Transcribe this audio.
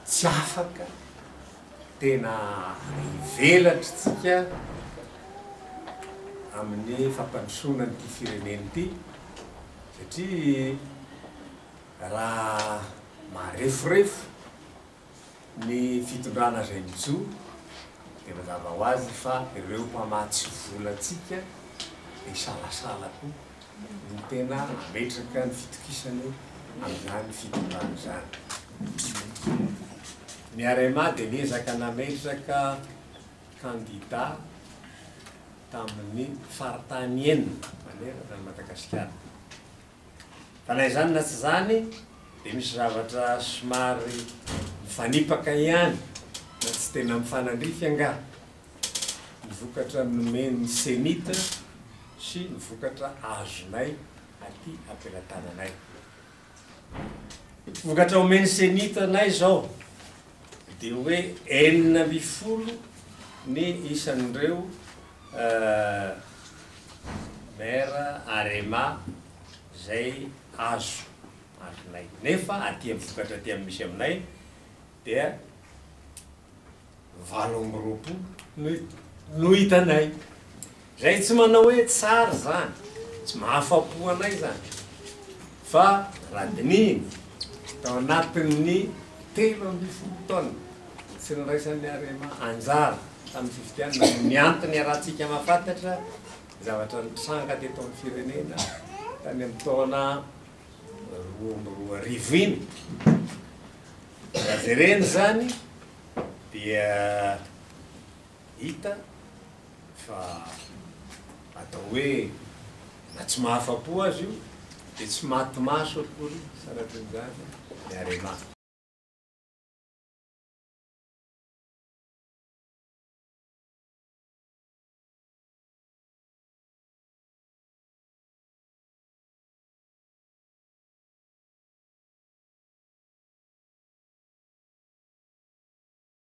Tsy afaka, tena ivelatra isika amin'ny fampandrosoana an'ity firenena ity satria raha mareforefo Ny fitondrana izay mijoro dia mazava ho azy fa ireo mpamatsy volantsika isalasala koa no tena mametraka ny fitokisany amin'izany fitondrana izany. Ny Arema dia niezaka nametraka kandida tamin'ny faritany enina manerana an'i Madagasikara. Fa na izany na tsy izany dia misy zavatra somary mifanipaka ihany na tsy tena mifanandrify angaha ny vokatra nomen'ny Cenit sy ny vokatra azonay aty am-pelatananay. Vokatra omen'ny Cenit anay izao dia hoe enina ambin'ny folo ny isan'ireo Euh maire Arema zay azo azonay nefa aty am vokatra aty am misy aminay dia valo amby roapolo no hitanay zay tsy manao hoe tsara zany tsy mahafapo anay zany Fa raha dinihina, tao anatin'ny telo ambin'ny folo taona tsy niraisan'ny Arema anjara tamin'ny fifidianana no niantony iarahantsika mahafantatra ny zavatra nitranga teto amin'ny firenena tany amin'ny taona roa amby roa arivo iny. Raha jerena izany dia Hita fa atao hoe na tsy mahafa-po aza io dia tsy maty maso akory sanatria izany ny Arema.